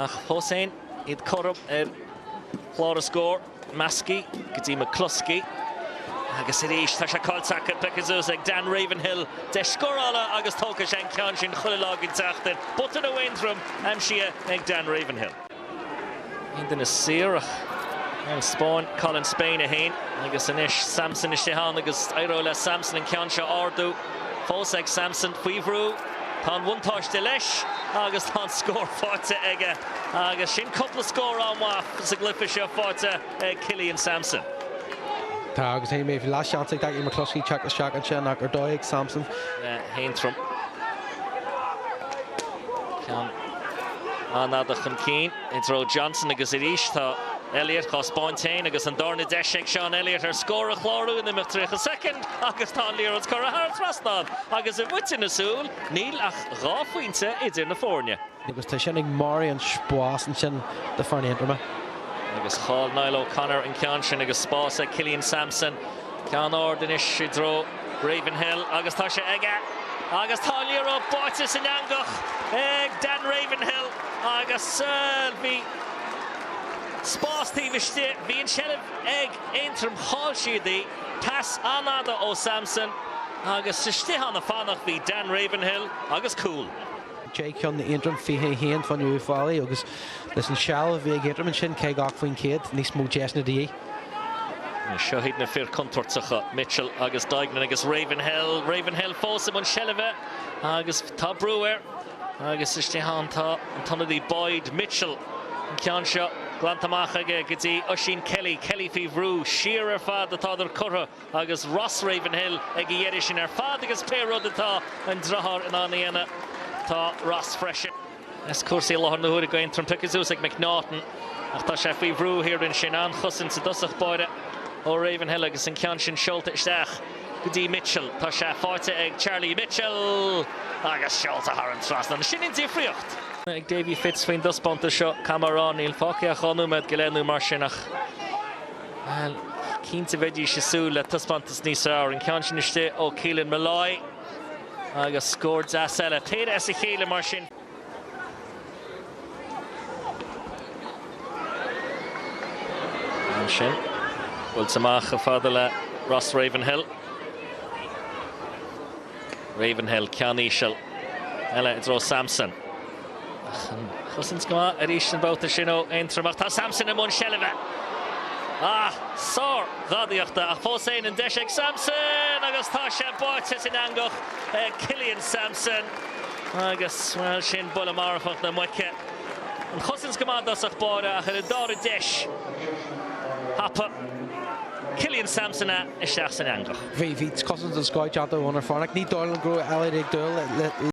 Ach fós fhéin, iad cothrom ar chlár na scór. Maskey go dtí McCloskey. Agus arís tá sé caillte acu. Pioctha suas ag Dan Ravenhill. Deis scórála agus tógfaidh sé an ceann sin chuile lá den tseachtain. Botún ó Aontroim aimsithe ag Dan Ravenhill. Aon duine saor ach an Spáinn, Colin Spain, 1. Agus anois Sampson istigh ann agus éireoidh le Sampson an ceann seo a ardú. Fós ag Sampson. Faoi bhrú. Tá an bhuntáiste leis agus tá an scór faighte aige agus sin cúpla scór an-mhaith sa gcluiche seo faighte ag Killian Sampson. Tá agus é mé bhí leath seans ag Daithí McCloskey teacht isteach ansin ach ar ndóigh ag Sampson. hAontroim. Ceann an-fhada chun cinn. i dtreo Johnson agus arís tá Elliot dhá spáint féin agus an dárna deis ag Seán Elliot ar scór a chlárú in imeacht 30 soicind agus tá an liathróid curtha thar an trasnán agus i bhfaiteadh na súl níl ach dhá phointe idir na fóirne. agus tá sin ag marú an spáis ansin do foirne Aontroma. Agus chaill Niall O'Connor an ceann sin agus spás ag Killian Sampson. Ceann ard anois i dtreo Ravenhill agus tá sé aige agus tá an liathróid báite san eangach ag Dan Ravenhill agus bhí spás taobh istigh. Bhí an tseilbh ag Aontroim, chaill siad í. Pas an-fhada ó Sampson agus istigh ann ag fanacht bhí Dan Ravenhill agus cúl. Deich gceann d'Aontroim, 21 fan Uíbh Fhailí agus leis an tseilbh a bhí ag Aontroim ansin, 50 faoin chéad, níos mó deiseanna de dhíth. Seo hiad na fir contúirteacha, Mitchell agus Duignan agus Ravenhill. Ravenhill fós i mbun seilbhe agus tá brú air. Agus istigh ann tá an t-ionadaí Boyd. Mitchell, an ceann seo glanta amach aige go dtí Oisín Kelly. Kelly faoi bhrú. Siar ar fad atádar curtha agus Ross Ravenhill ag a dheireadh sin ar fad agus pé rud atá an driotháir in ann a dhéanamh, tá Ross freisin. Is cúrsaí i láthair na huaire ag Aontroim. Pioctha suas ag McNaughton ach tá sé faoi bhrú thiar ansin. An-chosaint i dtosach báire ó Ravenhill agus an ceann sin seolta isteach go dtí Mitchell. Tá sé faighte ag Charlie Mitchell agus seolta thar an trasnán. Sin an difríocht! ag Davy Fitz faoin dtaispeántas seo, cath mar ran, níl fágtha ach dhá nóiméad go leith nó mar sin ach, bhuel, cinnte bheidís ag súil le taispeántas níos fearr. An ceann sin istigh ó Keelan Molloy. Agus scór deas eile. Téada as a chéile mar sin. Ansin, buailte amach chomh fada le Ross Ravenhill. Ravenhill, ceann íseal eile i dtreo Sampson. Ach an chosaint go maith arís an babhta sin ó Aontroim ach tá Samson i mbun seilbhe. Ah, sár ghadaíochta ach fós féin an deis ag Samson agus tá sé báite san eangach ag Killian Samson agus bhuel sin buille marfach na muice. An chosaint go maith i dtosach báire ach ar an dára deis thapa Killian Samson é isteach san eangach. Bhí cosaint den scoth déanta ag Eoghan ansin ar fad ach ní dóigh liom go raibh Elliot ag dúil le